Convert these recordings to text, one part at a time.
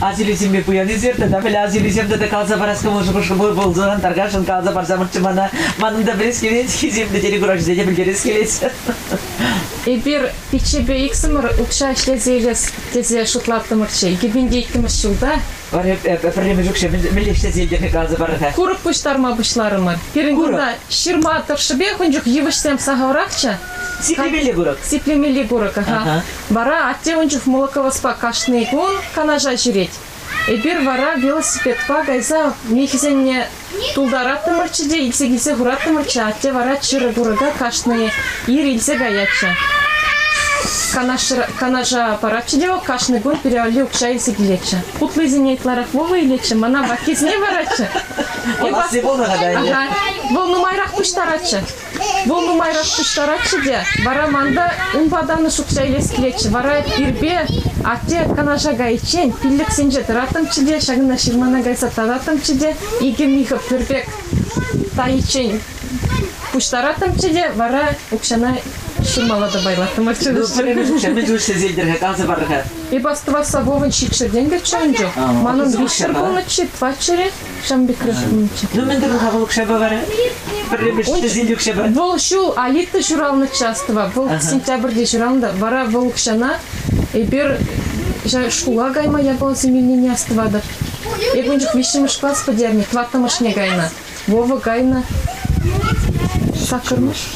Асилисемпе пуянисем тата пӗле асилисем тата каласа парас кӑмӑл пулсан таркашӑн каласа парса мӑччӗ мана манӑн та пӗлес килет хисемлӗ телекуравҫӑсене пӗлтерес килет эпир пиччепе иксӗмӗр укҫа ӗҫлесе илес тесе шутлаттӑмӑрччӗ иккӗмӗнче иккӗмӗш ҫулта пӗрлемӗш укҫа мӗнле ӗҫлесе илтерни каласа парӑр-ха курӑк пуҫтарма пуҫларӑмӑр пирӗн кунта ҫырма тӑршшӗпех ун чух йывӑҫсем сахалрахчӗ Сиплемелли курӑк. Сиплемелли курӑк, ага. Вара атте ун чух Молоковоспа кашни кун Канаша ҫӳрет. Эпир вара велосипедпа кайса михӗсенне тултараттӑмӑрччӗ те илсе килсе хураттӑмӑрччӗ, атте вара чырӑ курӑка кашни ир илсе каятчӗ. Канаша, Канаша паратчӗ те вӑл кашни кун пире валли укҫа илсе килетчӗ. Утлисене ытларах Вова илетчӗ, мана ваккисне паратчӗ. Вова сиволӑха та ӗнтӗ. Вӑл нумайрах пуҫтаратчӗ. Вӑл нумайрах пуҫтаратчӗ те, вара манта ун патанӗ шухӑша илес килетчӗ. Вара ирпе атте Канаша кайиччен пиллӗксенче тӑраттӑмччӗ те, ҫакӑнта ҫырмана кайса тататтӑмччӗ те, икӗ михӗ пӗр пек тайиччен пуҫтараттӑмччӗ те, вара укҫана ҫырмалла та пайлаттӑмӑрччӗ. Ҫӗнӗ ӗҫлесе илтӗр-ха, каласа парӑр-ха. Эп астӑвас Савовӑн ҫичҫӗр тенкӗччӗ ун чух. Манӑн виҫҫӗр пулнӑччӗ, паччӑрӗ. Шамбикра ҫитнӗччӗ. Ну мӗн турӑн-ха вӑл укҫапа вара? Пӗрремеш ҫӗсен укҫапа. Вӑл ҫул Алита ҫуралнӑ частьтӑва, вӑл сентябрьте ҫуралнӑ, вара вӑл укҫана эпир шкула кайма япала семейнине астӑватӑр. Эп ун чух виҫҫӗмӗш класс пӗтернӗ, тӑваттӑмӗшне кайнӑ. Вова кайнӑ. Саккӑрмӗш.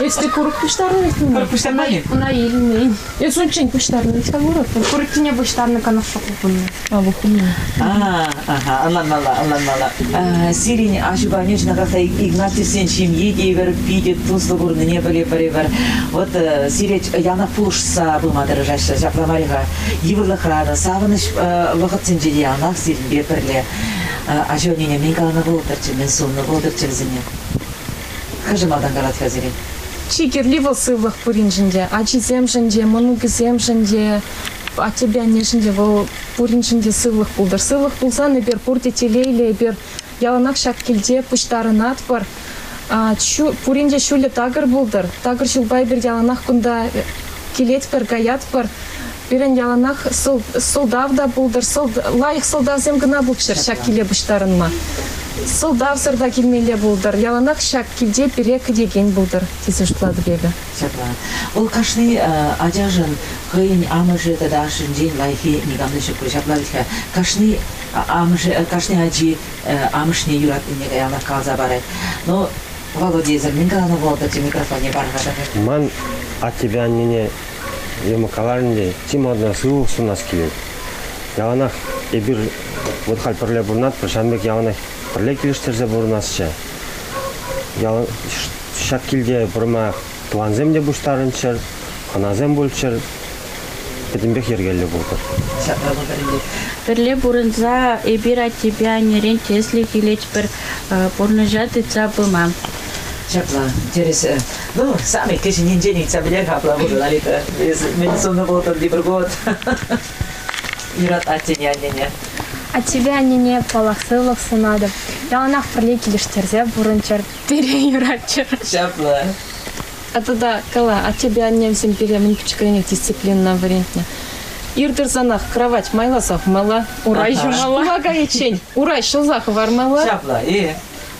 Если курок пуҫтарнӑ? Курок пуҫтарнӑ. Ӑна илмен. Эс унччен пуҫтарнӑ. Искал вырӑттӑм. Куроккине пуҫтарнӑ канашлу хупӑннӑ. А, вухтӑннӑ. А, ага, ӑнланмалла, ӑнланмалла. А, сирӗн ачупане ҫунакаса Игнатьевсен ҫемйи те евӗр питӗ туслӑ курнине пӗлӗпӗр. Вот э, сире янах пулӑшса пыма тӑрӑшаҫҫӗ. Ҫапла мар-и-ха? Йывӑрлӑхран, савӑнӑҫ э, вӑхӑтсенче те янах сирӗнпе пӗрле. Э, ача ӗнене мӗн каланӑ пултӑрччӗ, мӗн суннӑ пултӑрччӗ вӗсене? Мӗншӗн малтан калаҫрӗ сире? Чи кирли вӑл сывлӑх пуриншӗн те. Ачисемшӗн те, мӑнукӗсемшӗн те, аттепе аннешӗн те вӑл пуриншӗн те сывлӑх пултӑр. Сывлӑх пулсан эпир пурте телейлӗ, эпир яланах ҫак килте пуҫтарӑнатпӑр. Пурин те ҫулӗ такӑр пултӑр. Такӑр ҫулпа эпир яланах кунта килетпӗр, каятпӑр. Пирӗн яланах сӑлтав та пултӑр. лайӑх сӑлтавсем кӑна пулччӑр ҫак киле пуҫтарӑнма. Сӑлтавсӑр та килмелле пултӑр. Яланах ҫак килте пире кӗтекен пултӑр, тесе шутлатӑп эпӗ. Ҫапла. Вӑл кашни ачашӑн хӑйӗн амӑшӗ тата ашшӗнчен лайӑххи никам та ҫук пуль. Ҫапла вӗт-ха. Кашни амӑшӗ, кашни ачи амӑшне юратнине каяллах каласа парать. Но Володейсӑр мӗн каланӑ вӑл-тӑрчӗ микрофонне парӑнкатах. Ман аттепе аннене Дима каларӗнче чи малтан сывлӑх сунас килет. Яланах эпир вот халь пӗрле пурӑнатпӑр, ҫавӑн пек яланах пӗрле килӗштерсе пурӑнасчӗ. Ял ҫак килте пурӑма тӑвансем те пуҫтарӑнччӑр, хӑнасем пулччӑр. Пӗтӗмпех йӗркеллӗ пултӑр. Ҫапла пултӑр ӗнтӗ. Пӗрле пурӑнса эпир аттепе аннерен тӗслӗх илетпӗр, пурнӑҫа тытса пыма. Ҫапла, тӗрӗсӗ. Ну, сами кӗҫӗннинчен ыйтса пӗлер апла пулӑ, Лалита. Мӗн суннӑ пултӑр тепӗр год. Юратать тени аннене. А тебе, аннене, паллах, сывлӑх сунатӑп. Яланах пӗрле килӗштерсе пурӑнчӑр, пире юратчӑр. Ҫапла. А тата кала, а тебе аннемсем пире мӗн пӗчӗкренех дисциплинӑна вӗрентнӗ. Ир тӑрсанах кравать майласах мала, урай ҫумалла. Кума кайиччен урай ҫӑлса хӑвармалла. Ҫапла, и.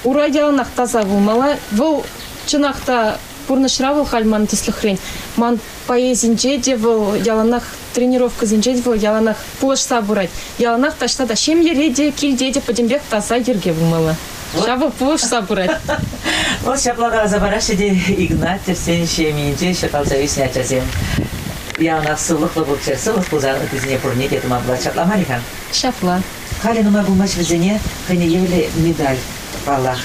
Урай яланах таса пулмалла. Вӑл Чӑнах та, пурнӑҫра вӑл халь ман тӗслӗхрен. Ман поэзинче те вӑл яланах, тренировкӑсенче те вӑл яланах пулӑшса пырать. Яланах таҫта та ҫемьере те, килте те пӗтӗмпех таса йӗрке пулмалла. Ҫав вӑл пулӑшса пырать. Вӑл ҫапла каласа параҫҫӗ те Игнатьевсен ҫемйинче ҫуралса ӳснӗ ачасем. Яланах сывлӑхлӑ пулччӑр, сывлӑх пулса ытисене пурне те тума пулать. Ҫапла мар-и-ха? Ҫапла. Халӗ нумай пулмасть вӗсене хӑйне евӗрлӗ медаль, паллах,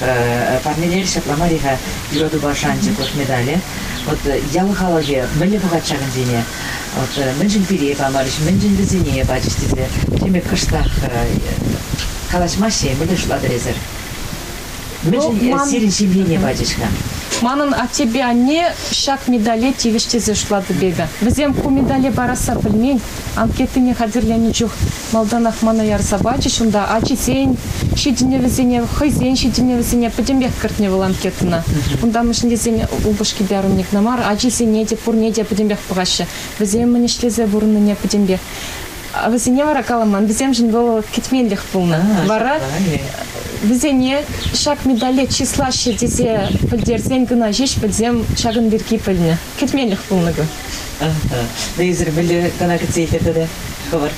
парнелер, ҫапла мар-и-ха, юратупа шанчӑклӑх медалӗ. Вот ял халӑхӗ мӗнле пӑхать ҫакӑнсене? Вот мӗншӗн пире памарӗҫ, мӗншӗн вӗсене пачӗҫ тесе теме кӑштах калаҫмаҫҫӗ-и, мӗнле шутлатӑр эсӗр? Мӗншӗн ну, сирӗн ҫемьене пачӗҫ-ха? Манӑн аттепе анне ҫак медале тивӗҫ тесе шутлатӑп эпӗ. Вӗсем ку медале парасса пӗлмен, анкетине хатӗрленӗ чух Малтанах мана ярса пачӗҫ унта ачисен ҫитӗнӗвӗсене, хӑйсен ҫитӗнӗвӗсене пӗтӗмпех кӗртнӗ вӑл анкетӑна. Унта мӗншӗн тесен упӑшки те арунник кӑна мар, ачисене те пурне те пӗтӗмпех пӑхаҫҫӗ, вӗсем мӗн ӗҫлесе пурӑннине пӗтӗмпех. Вӗсене вара каламан, вӗсемшӗн вӑл кӗтменлӗх пулнӑ. Вара вӗсене ҫак медале чыслаҫҫӗ тесе пӗлтерсен кӑна ҫеҫ вӗсем ҫакӑн пирки пӗлнӗ. Кӗтменлӗх пулнӑ ку. Хӑйсӑр пӗлӳ кӑна кӗтсе илтӗр те хӑвӑр.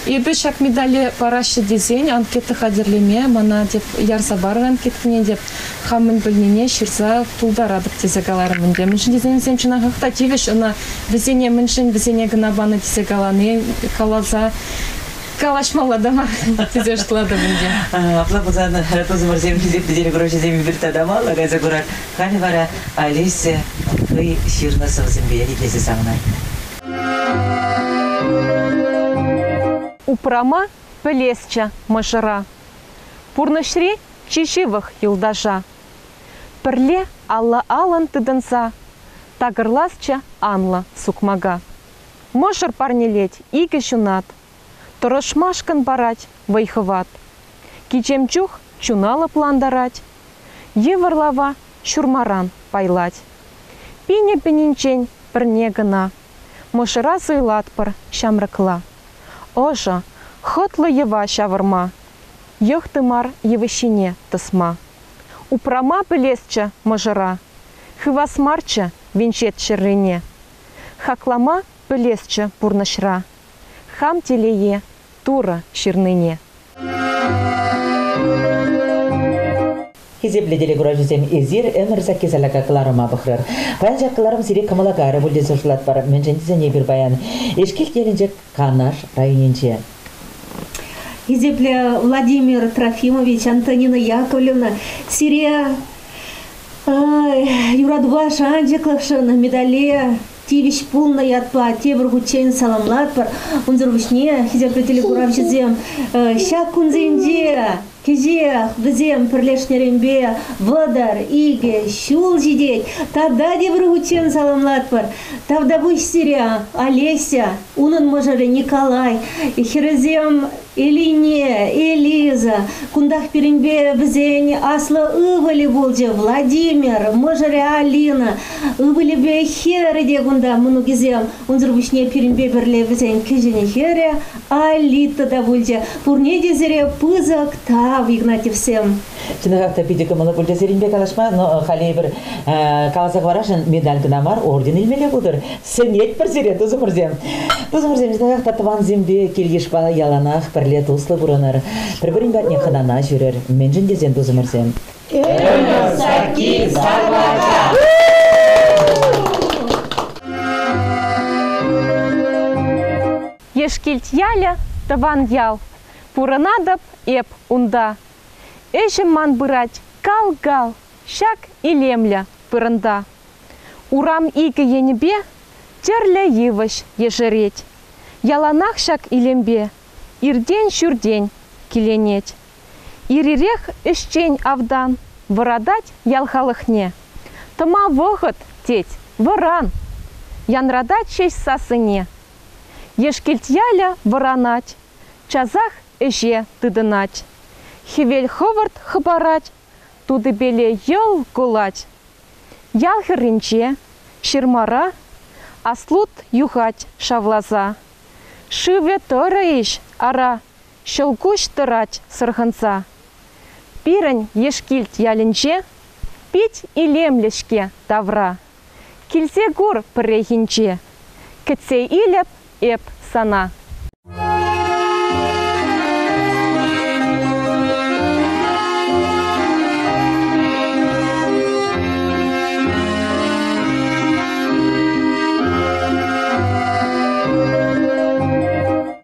Эпӗ ҫак медале параҫҫӗ тесен анкета хатӗрлеме мана тӗп ярса парнӑ анкеткине тӗп хам мӗн пӗлнине ҫырса пултаратӑп тесе каларӑм ӗнтӗ. Мӗншӗн тесен чӑнахах та тивӗҫ ӑна вӗсене мӗншӗн вӗсене кӑна панӑ тесе калани каласа калаҫмалла та мар тесе шутлатӑп ӗнтӗ. Апла пулсан тусӑмӑрсем хисеп пӗтерӳ грошисем эпир тата малла кайса курар. Халӗ вара Олеся хӑй ҫырнӑ сӑвӑсемпе ӗлкӗрсе савӑнать. Упрама пӗлесчӗ мӑшӑра. Пурнӑҫри чи ҫывӑх юлташа. Пӗрле алла-аллӑн тытӑнса. Такӑрласчӗ анлӑ сукмака. Мӑшӑр парнелет икӗ ҫунат. Тӑрӑшмашкӑн парать вӑй-хӑват. Кичем чух чуна лӑплантарать. Йывӑр лава ҫурмаран пайлать. Пинӗ-пӗнинчен пӗрне кӑна. Мӑшӑра суйлатпӑр ҫамрӑкла. Ӑшӑ, хӑтлӑ йӑва ҫавӑрма. Йӑх тымар йывӑҫҫине тӑсма. Упрама пӗлесчӗ мӑшӑра. Хывас марччӗ венчет ҫӗррине. Хаклама пӗлесчӗ пурнӑҫра. Хам телее, Турӑ ҫырнине. Хисеплӗ телекуравҫӑсем, эсир ӗмӗр сакки салака кӑларӑма пӑхрӑр. Паян ҫак кӑларӑм сире кӑмӑла кайрӗ пуль тесе шутлатпӑр, мӗншӗн тесен эпир паян Эшкилт ялӗнче Канаш районӗнче. Хисеплӗ Владимир Трофимович, Антонина Яковлевна, сире юратупа шанчӑклӑхшӑн медале тивӗҫ пулнӑ ятпа тепӗр хутчен саламлатпӑр. Унсӑр пуҫне хисеплӗ телекуравҫӑсем ҫак кунсенче кӗҫех вӗсем пӗрлешнӗренпе вӑтӑр, икӗ ҫул ҫитет. Тата тепӗр хутчен саламлатпӑр. Тавтапуҫ сире, Олеся, унӑн мӑшӑрӗ Николай, хӗрӗсем Элине, Элиза, кунтах пирӗнпе вӗсен аслӑ ывӑлӗ пулчӗ Владимир, мӑшӑрӗ Алина. Ывӑлӗпе хӗрӗ те кунта мӑнукӗсем. Унсӑр пуҫне пирӗнпе пӗрле вӗсен кӗҫӗн хӗрӗ Алита та пулчӗ. Пурне те сире пысӑк тав, Игнатьевсем. Чӑнах та питӗ кӑмӑллӑ пуль сирӗнпе калаҫма, но халӗ эпир каласа хӑварасшӑн медаль кӑна мар, орден илмелле пултӑр. Сӗнетпӗр сире, тусӑмӑрсем. Тусӑмӑрсем, чӑнах та тӑвансемпе кил-йышпа яланах пӗрле туслӑ пурӑнӑр, пӗр-пӗрин патне хӑнана ҫӳрӗр. Мӗншӗн тесен, тусӑмӑрсем. Ӗмӗр сакки савӑнча. Ешкилт ялӗ, тӑван ял. Пурӑнатӑп эп унта. Ӗҫӗм ман пырать кал-кал, ҫак илемлӗ вырӑнта. Урам икӗ енӗпе тӗрлӗ йывӑҫ ешерет. Яланах ҫак илемпе иртен-ҫӳртен киленет. Ир-ирех ӗҫчен автан вӑратать ял халӑхне. Тӑма вӑхӑт, тет, вӑран, янратать ҫеҫ сассине. Ешкӗлт ялӗ вӑранать часах ӗҫе тытӑнать, хӗвел хӑвӑрт хӑпарать, тутипеле йӑл кулать. Ял хӗрринче ҫырмара аслут юхать шавласа. Шывӗ тӑрӑ-иҫ, ара, ҫӑлкуҫ тӑрать сӑрхӑнса. Пирӗн Ешкилт ялӗнче пит илемлӗ-ҫке тавра. Килсе кур пӗррехинче. Кӗтсе илӗп эп сана.